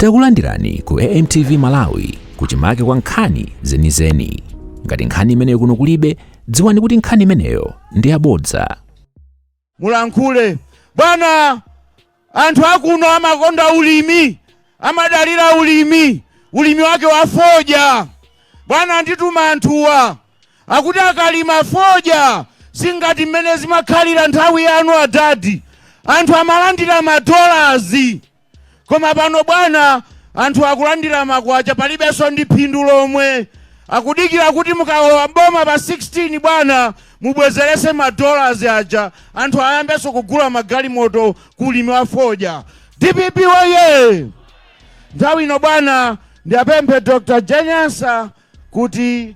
Takulandirani ku AMTV Malawi kuchimake kwa nkhani zenizeni. Ngati nkhani imeneyo kuno kulibe, dziwani kuti nkhani imeneyo ndi yabodza. mulankhule bwana anthu akuno amakonda ulimi amadalira ulimi ulimi wake wa fodya bwana andituma anthuwa akuti akalima fodya singati mmene zimakhalira nthawi yanu adadi anthu amalandira madolazi Koma pano bwana anthu akulandira makwacha palibenso ndi phindu lomwe. Akudikira kuti mukalowa m'boma pa 16 bwana mubwezeretse ma dollars aja anthu ayambenso kugula magalimoto ku ulimi wa fodya. Dpp woyee! Nthawi ino bwana ndiyapemphe Dr. Jane Ansah kuti.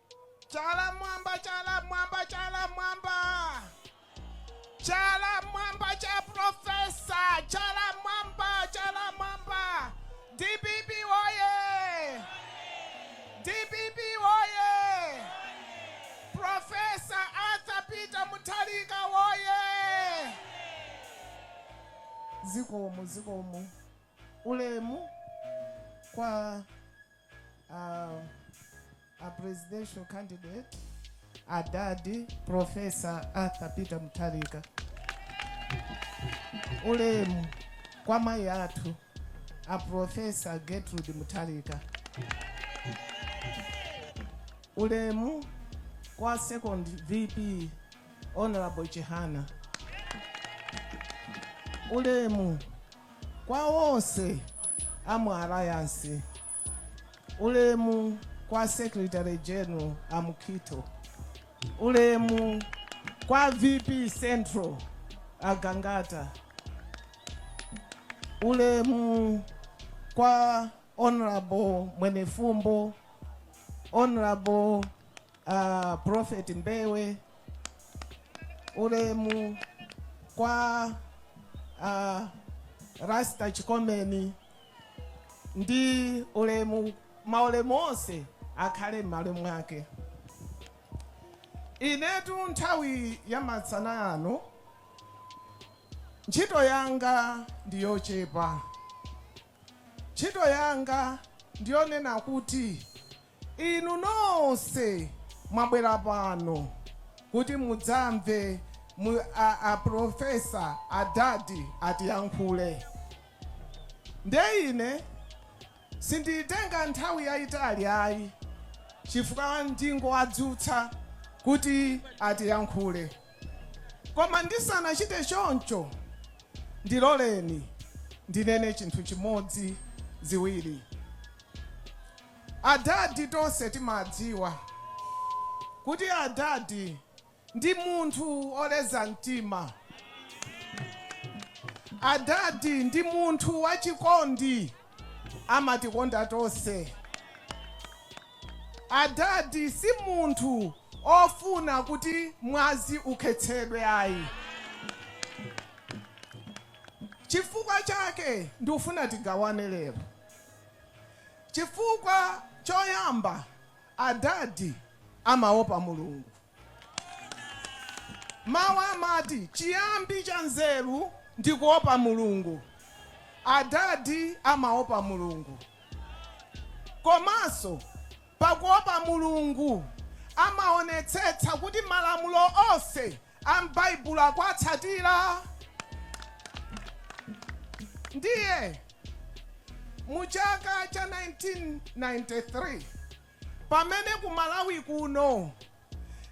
Chala m'mwamba, chala m'mwamba, chala m'mwamba. Chala m'mwamba cha Profesa, chala m'mwamba, chala m'mwamba. DPP woye! DPP woye! Profesa Arthur Peter Mutharika woye! Zikomo, zikomo. Ulemu kwa uh, a presidential candidate adadi profesa arthur peter mutharika ulemu kwa mayi athu a profesa gertrude mutharika ulemu kwa second vp honorable chihana ulemu Kwa onse a mu Alliance, ulemu kwa Secretary General a mu Quito, ulemu kwa VP Central a Gangata, ulemu kwa Honorable Mwenefumbo, Honorable uh, Prophet Mbewe ulemu kwa uh, Rasta Chikomeni ndi ulemu maulemu onse akhale m'malo mwake. Inetu nthawi ya masana ano ntchito yanga ndi yochepa, ntchito yanga ndiyonena kuti Inu nonse mwabwera pano kuti mudzamve a Professor a Dadi atiyankhule. Nde ine sinditenga nthawi yayitali ayi chifukwa ndingowadzutsa kuti atiyankhule. Koma ndisanachite choncho ndiloleni ndinene chinthu chimodzi, ziwiri. Adadi tonse timadziwa kuti adadi ndi munthu oleza mtima. Adadi ndi munthu wachikondi amatikonda tonse. Adadi si munthu ofuna kuti mwazi ukhetsedwe ayi. Chifukwa chake ndufuna tigawane lero. Chifukwa choyamba adadi amaopa Mulungu. Mawu amati chiyambi cha nzeru ndi kuopa Mulungu. Adadi amaopa Mulungu komanso pakuopa Mulungu amaonetsetsa kuti malamulo onse a m'Baibulo akuwatsatira. Ndiye mu chaka cha 1993 pamene ku Malawi kuno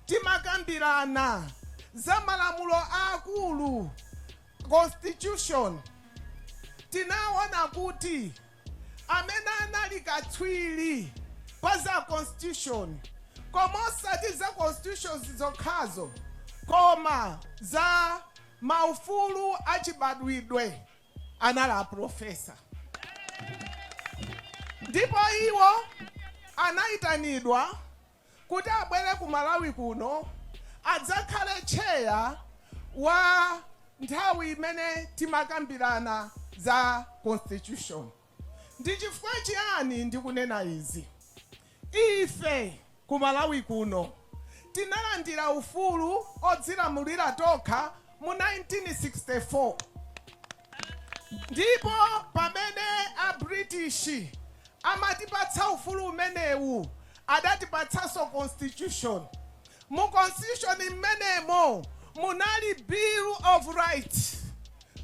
timakambirana za malamulo aakulu, Constitution, tinaona kuti. amene anali katswiri pa za Constitution koma osati za Constitution zokhazo koma za maufulu achibadwidwe anali a Professor ndipo iwo anaitanidwa kuti abwere ku Malawi kuno adzakhale tcheya wa nthawi imene timakambirana za constitution. Ndi chifukwa chiyani ndikunena izi? Ife ku Malawi kuno tinalandira ufulu odzilamulira tokha mu 1964. Ndipo pamene a British amatipatsa ufulu umenewu, adatipatsanso Constitution. Mu Constitution m'menemo munali Bill of Rights,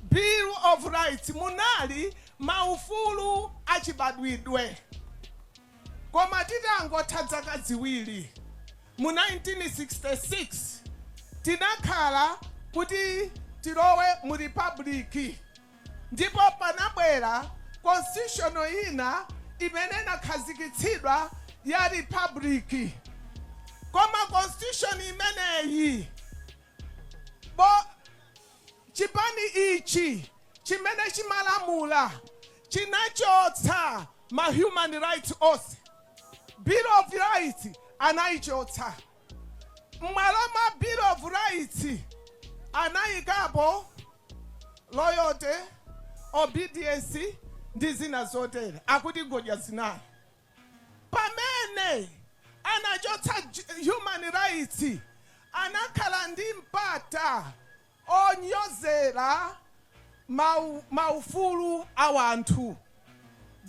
Bill of Rights, munali maufulu achibadwidwe. Koma titangotha dzaka ziwiri, Mu 1966 tinakhala kuti tilowe mu Republic, ndipo panabwera Constitution ina imene inakhazikitsidwa ya Republic. Koma Constitution imeneyi, Chipani ichi chimene chimalamula chinachotsa ma human rights onse. Bill of Rights anaichotsa. M'malo mwa Bill of Rights anaikapo Loyalty, Obedience ndi zina zotere. Akuti ngodya zinayi. Pamene anachotsa human rights anakhala ndi mpata onyozera ma ufulu a wanthu.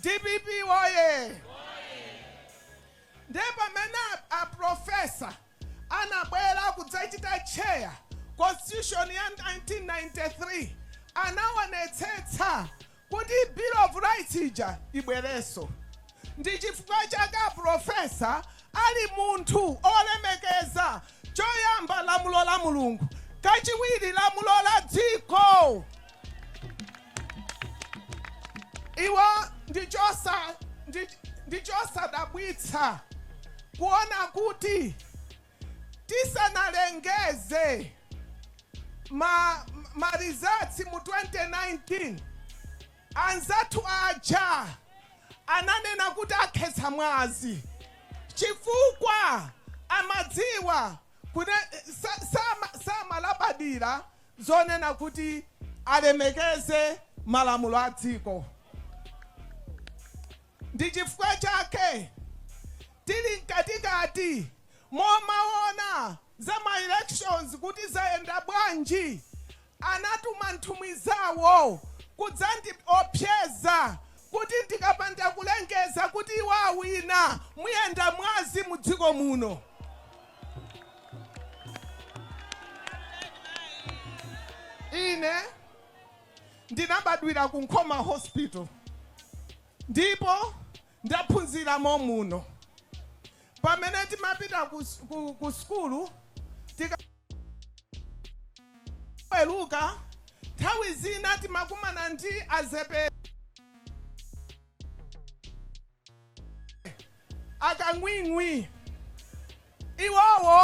Dpp woyee! Nde pamene a professor anabwera kudzachita chair constitution ya 1993 anaonetsetsa kuti Bill of Rights ija ibwerenso. Ndi chifukwa chake a Professor ali munthu olemekeza, choyamba lamulo la Mulungu, kachiwiri lamulo la dziko. Iwo ndi chosadabwitsa kuona kuti Tisanalengeze ma results mu 2019 anzathu aja ananena kuti akhetsa mwazi chifukwa amadziwa kune samalabadira zonena kuti alemekeze malamulo a dziko. Ndi chifukwa chake tili mkatikati momaona za ma elections kuti zayenda bwanji anatuma nthumwi zawo kudzandiopseza kuti ndikapanda kulengeza kuti iwo awina muyenda mwazi mu dziko muno. Ine. Ndinabadwira ku Nkhoma Hospital ndipo ndaphunzira mommuno. Pamene timapita ku sukulu tikaweruka, nthawi zina timakumana ndi a Zepete, akang'wing'wi. Iwowo.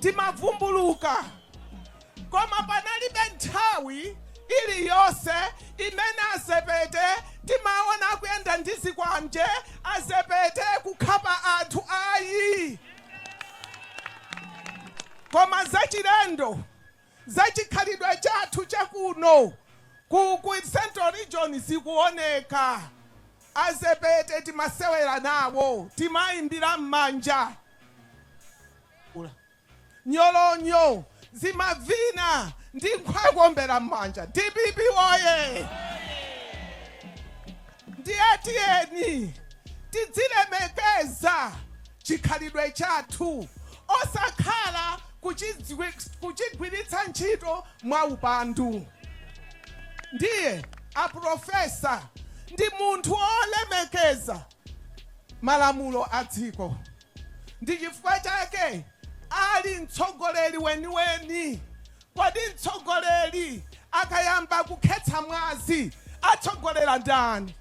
timavumbuluka. Koma panalibe nthawi iliyonse imene a Zepete timaona akuyenda ndi zikwanje, a Zepete kukhapa anthu ayi. Koma zachilendo za chikhalidwe chathu cha kuno ku ku central region zikuoneka. A Zepete timasewera nawo, timaimbira mmanja nyolonyo, zimavina n'kumawaombera mmanja. Dpp woyee! Ndiye tiyeni tidzilemekeza chikhalidwe chathu. osakhala kuchigwiritsa ntchito mwaupandu. Ndiye a pulofesa ndi munthu olemekeza malamulo a dziko. Ndi chifukwa chake ali mtsogoleri weniweni Kodi mtsogoleri akayamba kukhetsa mwazi atsogolera ndani?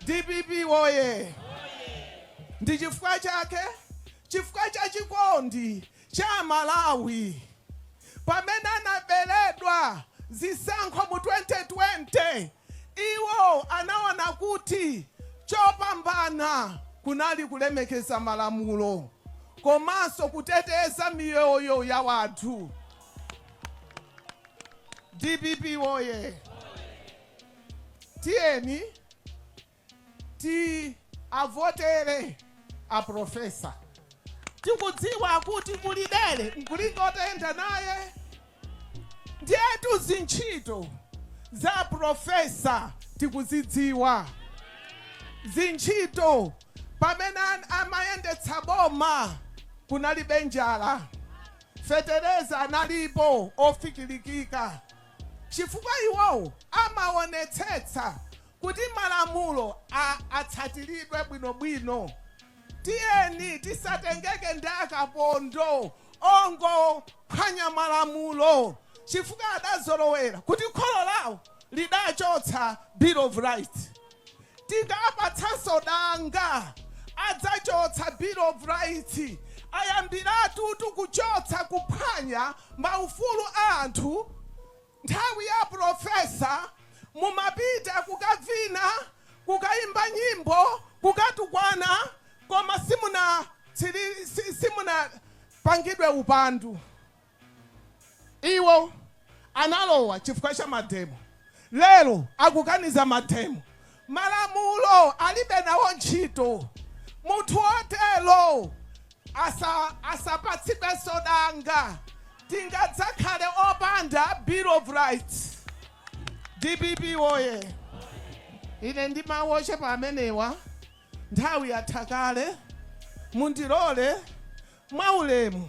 Dpp woyee! Ndi chifukwa chake, chifukwa cha chikondi cha Amalawi pamene anaberedwa zisankho mu 2020, Iwo anaona kuti chopambana kunali kulemekeza malamulo komanso kuteteza miyoyo ya wanthu. Dpp woyee! Tiyeni ti avotere a profesa tikudziwa kuti kuli dere nkulinga utayenda naye ndiyetu zintchito za profesa tikuzidziwa zintchito pamene an- amayendetsa boma kunalibe njala fetereza analipo ofikilikika chifukwa iwowo amaonetsetsa Kuti malamulo a atsatiridwe bwino bwino, tiyeni tisatengeke ndi akapondo ongophwanya malamulo chifukwa adazolowera kuti kholo lawo lidachotsa Bill of Rights. Tingawapatsenso danga, adzachotsa Bill of Rights. Ayambiratutu kuchotsa, kuphwanya maufulu a anthu. Nthawi ya aprofesa mumapita kukavina, kukaimba nyimbo, kukatukwana koma simuna tsili simunapangidwe upandu. Iwo analowa chifukwa cha mademo lero akukaniza mademo Malamulo alibe nawo ntchito. Munthu wotero asa asapatsidwenso danga. Tingadzakhale opanda Bill of Rights. Dpp woye! Ine ndi mawu ochepa amenewa, nthawi yatha kale. Mundilole mwaulemu.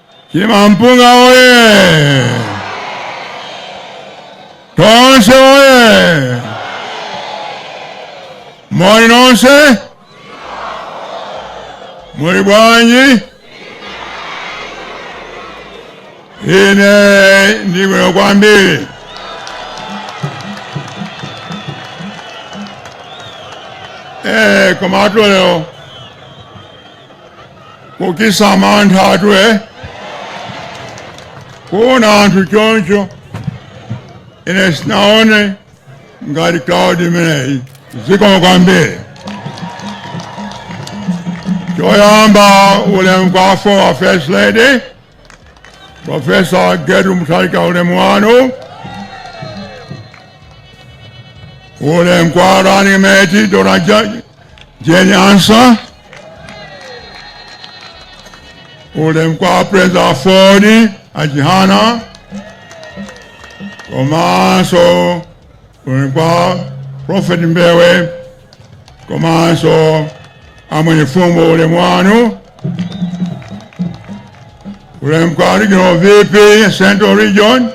Chimampunga oye! Tonse oye! Moni nonse muli bwanji? Ine ndi bwino kwambiri. Eh, koma atolero kuchitsa mantha athu e kuona anthu choncho ine sinaone ngati crowd imeneyi zikomo kwambiri choyamba ulemu kwa former first lady profesa Gertrude Mutharika ulemu wanu ulemu kwa running mate dona Do you any answer? All them corporates are forty at Jihana. Komanso unikwa Prophet Mbewe. Komanso amwenye fumo ule mwanu. Ule mkwa regional VP Central Region.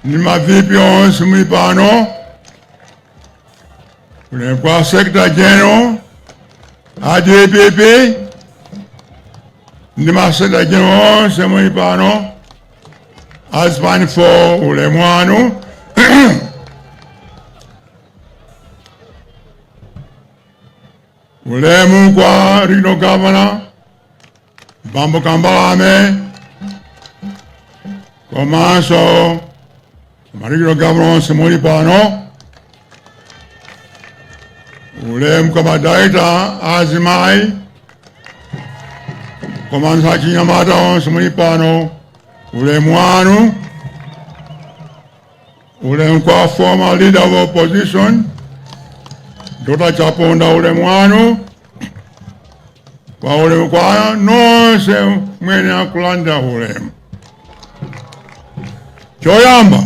Ni ma VP onse muli pano. Ulemu kwa Secretary General a DPP ndi ma Secretary General onse muli pano azipani fo ulemu wanu ulemu kwa Regional Governor bambo kambalame komanso ma regional governor onse muli pano ulemu kwa ma director azimayi komanso achinyamata onse muli pano ulemu wanu Ulemu kwa former leader of opposition Dr. Chaponda, ulemu wanu kwa ulemu kwa nonse muyenera kulandira ulemu. Choyamba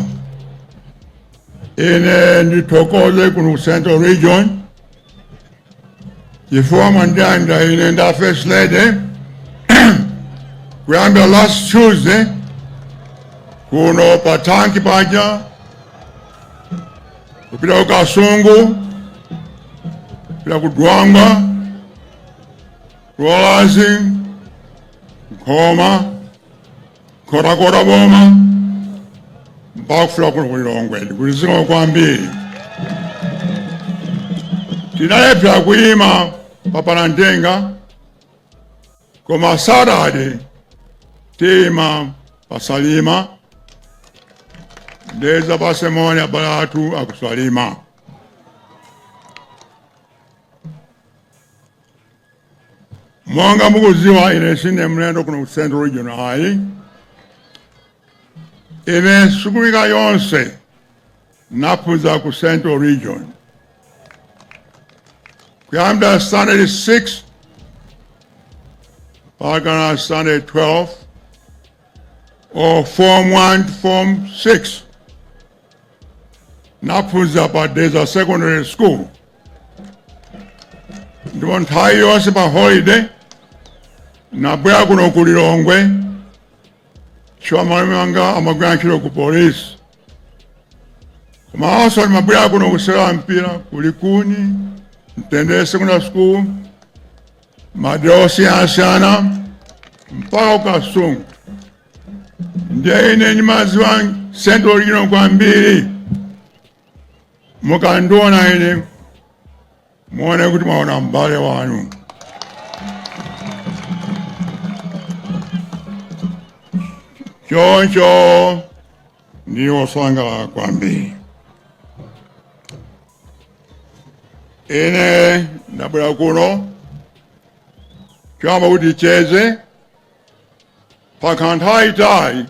ine ndithokoze kuno Central Region chifukwa mwandilandira ine ndi a first lady kuyambira last tuesday kuno pa tanki paja kupita ku kasungu kupita ku dwangwa ku Dwambazi nkhoma Nkhotakota boma mpaka kufika kuno ku Lilongwe kuno zikomo kwambiri. Tinalephera kuyima pa Palantenga koma Saturday tiyima pa Salima ndidzapatse moni abale athu aku Salima. Monga mukudziwa ine sine mlendo kuno ku Central Region ayi. Ine sukulu yanga yonse naphunzira ku Central Region. Kuyambira standard 6 mpakana standard 12 or form 1 to form 6 naphunzira pa Dedza Secondary School. ndipo nthawi yonse pa holiday nabwera kuno ku lilongwe chifukwa malume wanga amagwira ntchito ku polisi koma also ndimabwera kuno kusewera mpira ku likuni mtendere secondary school madera osiyanasiyana mpaka ku Kasungu ndiye ine ndimadziwa central region kwambiri Mukandiona ine muone kuti mwaona m'bale wanu. Choncho ndili osangalala kwambiri. Ine ndabwera kuno choyamba kuti ticheze pakhala nthawi yaitali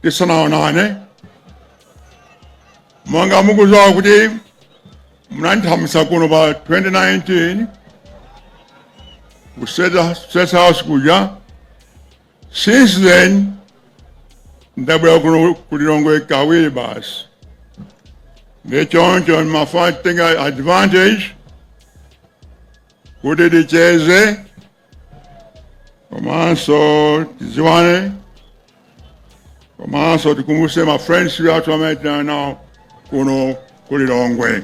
tisanaonane monga mukuziwa kuti munandithamangitsa kuno pa 2019 ku State House kuja since then ndabwera kuno ku Lilongwe kawiri basi ndiye choncho ndimafuna kutenga advantage kuti ticheze komanso tidziwane komanso tikumbutse ma friends athu amene tinali nawo kuno ku Lilongwe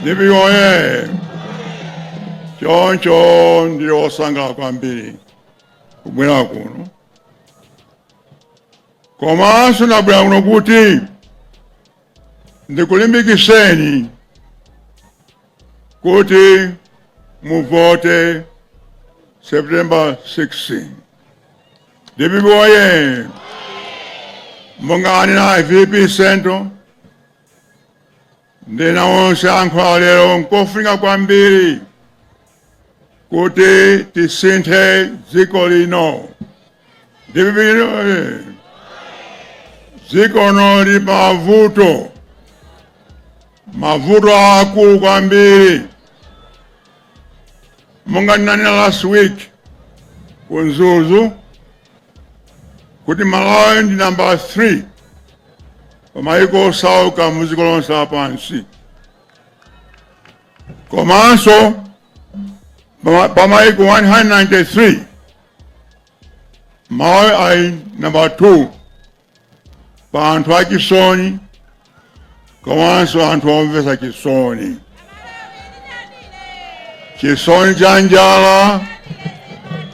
DPP oye choncho ndili wosangalala kwambiri kubwera kuno komanso ndabwera kuno kuti ndikulimbikiseni kuti muvote September 16 DPP oye monga ananena VP Centre ndi ena onse ayankhula lero nkofunika kwambiri kuti tisinthe dziko lino DPP oye dziko lino lili pa mavuto mavuto aakulu kwambiri monga ndinanena last week ku Mzuzu kuti Malawi ndi namba 3 pa mayiko osauka mu dziko lonse lapansi komanso pa mayiko 193 Malawi ali namba 2 pa anthu achisoni komanso anthu omvetsa chisoni chisoni cha njala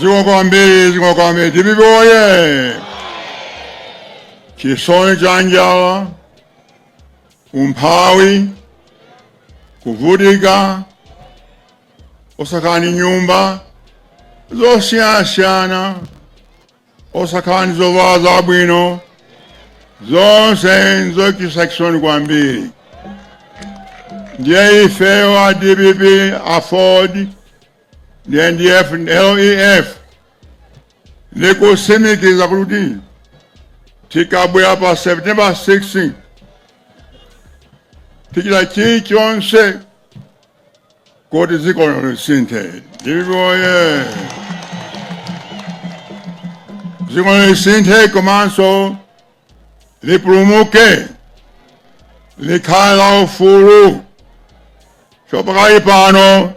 zikomo kwambiri zikomo kwambiri dpp oye chisoni cha njala umphawi kuvutika osakhala ndi nyumba zosiyanasiyana osakhala ndi zovala zabwino zonse nzochititsa chisoni kwambiri ndiye ifeyo a dpp aford ndf lef tikutsimikiza kuti tikabwera pa september 16 tichita chilichonse Kuti dziko lino lisinthe. Dpp oye! Dziko lino lisinthe komanso lipulumuke, likhale la ufulu. Chopakali pano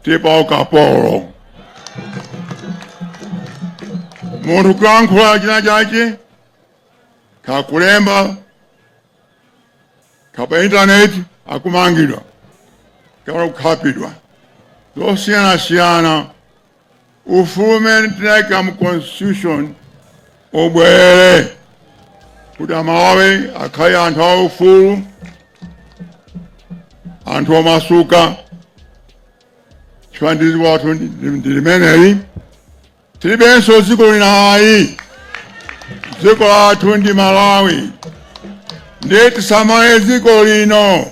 tili pa ukapolo. Munthu kuyankhula china chake kakulemba ka pa intaneti akumangidwa kapena kukhapidwa zosiyanasiyana ufulu umene tinayika mu constitution ubwerere kuti amalawi akhale anthu a ufulu anthu omasuka chifukwa dziko lathu ndi limeneli tilibenso dziko lina ayi dziko lathu ndi malawi ndiye tisamale dziko lino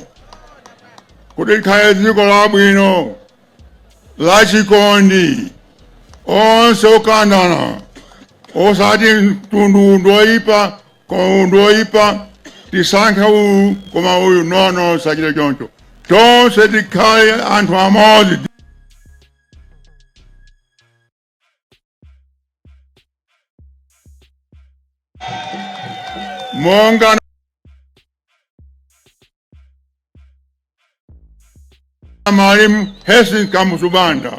kuti likhale dziko labwino lachikondi onse okondana osati mtundu uwu ndi oyipa koma uwu ndi oyipa tisankhe uyu koma uyu no no tisachite choncho tonse tikhale anthu amodzi monga mwalimu Hastings Kamuzu Banda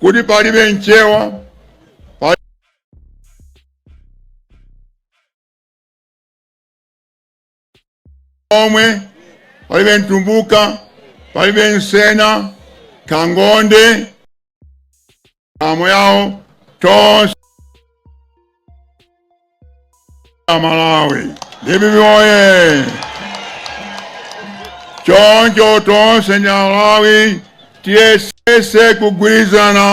kuti palibe Mchewa pali- lomwe palibe mtumbuka palibe msena kaya ngonde amo yao tonse amalawi dpp oye choncho tonse ndi amalawi tiyesese kugwirizana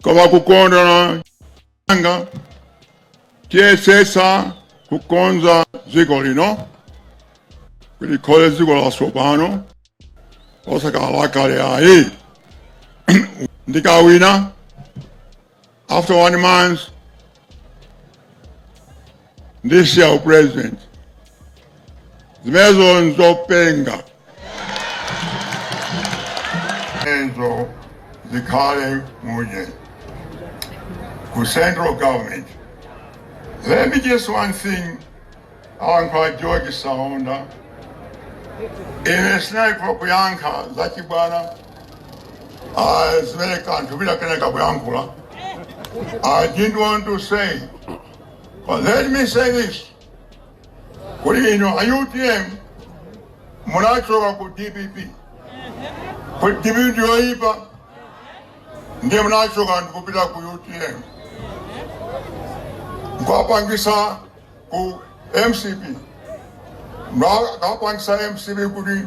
komanso kukondana anga tiyesetsa kukonza dziko lino kuti likhale dziko latsopano osakhala lakale ayi ndikawina after one month This year, President, zimenezo zopenga izo zikhale munje ku central government. Let me just one thing on George Saonda ine sindinafune kuyankha zachibwana ah, zimene kanthu bila kaneka kuyankhula I didn't want to say But let me say this. Kuti inu a UTM munachoka ku DPP. Kuti DPP ndiyoipa ndiye munachoka ndikupita ku UTM. Mukapangisa ku MCP. Mukapangisa MCP kuti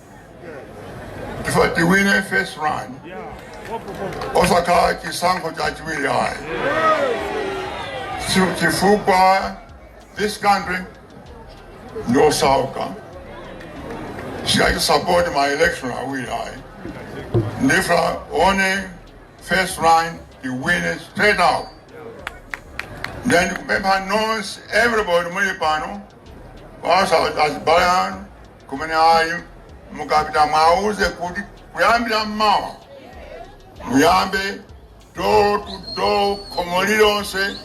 chifukwa tiwine first round osakhala chisankho chachiwiri ayi Chi- chifukwa this country ndosauka singasapote ma election awiri ayi ndifuna only first round tiwine straight out then ndikupempha nonse everybody muli pano onse azibale anu kumene ayi mukapita mwauze kuti kuyambira mmawa muyambe door to door khomo lilonse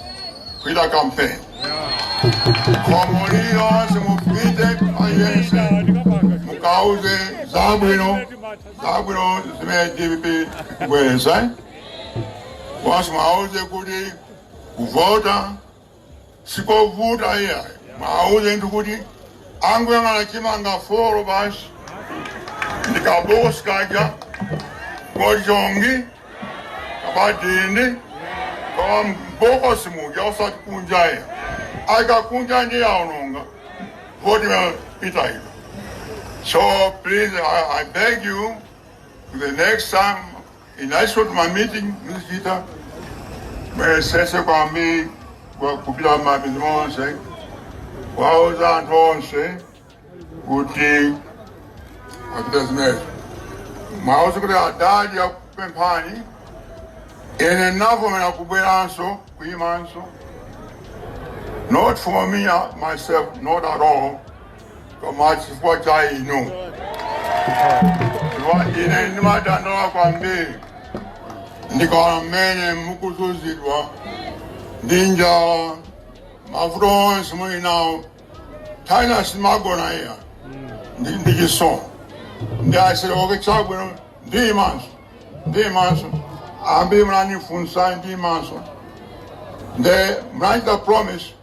kuchita kampeni khomo lilonse mupite payense mukauze zabwino zabwino zimene dpp ikubweretsa onse mwauze kuti kuvota Sikovuta iyayi, mwauze ndithu kuti angoyang'ana chimanga folo basi ndi kabosi kaja kochonga kapena kudinda koma mbokosi muja osati kunja iya akakunja ndiye aononga voti imapita so please I, I beg you the next time muli ndi tuma meeting muzichita muyesese kwambiri kupita m'midzi monse kwauza anthu onse kuti achite zimenezo mwauze kuti adadi akupemphani ine ndinavomera kubweranso kuyimanso not for me uh, myself not at all koma chifukwa cha inu chifukwa ine ndimadandaula kwambiri ndikaona mmene mukuzunzidwa ndi njala mavuto onse muli nawo ine sindimagona ayi ndi ndi chisoni nde I said okay chabwino chimanga chimanga ambiri munandifunsa chimanga nde munachita promise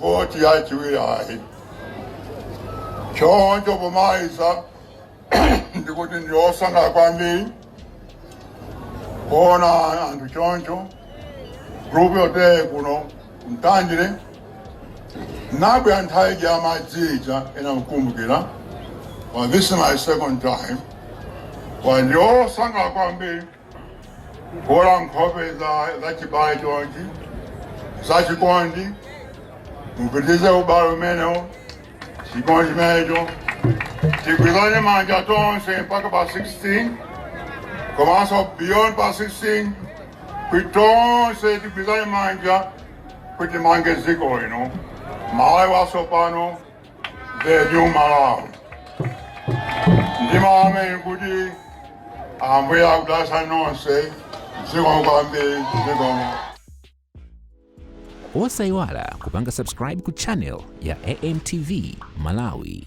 voti yachiwiri ayi choncho pomaliza ndikuti ndine osangalala kwambiri kuona anthu chonchi gulu loteleli kuno Mtandire ndinabwera nthawi ija yamadzi ija ena mukumbukira well, this is my second time well, ndine osangalala kwambiri kuona nkhope za za chibale chonchi za chikondi mupitirize ubale umenewo chikondi chimenecho tigwirizane manja tonse mpaka pa 16 komanso beyond pa 16 kuti tonse tigwirizane manja kuti timange dziko lino malawi watsopano the new Malawi. Ndiima pamenepo kuti ambuye akudalitseni nonse zikomo kwambiri zikomo. osayiwala kupanga subscribe ku channel ya amtv malawi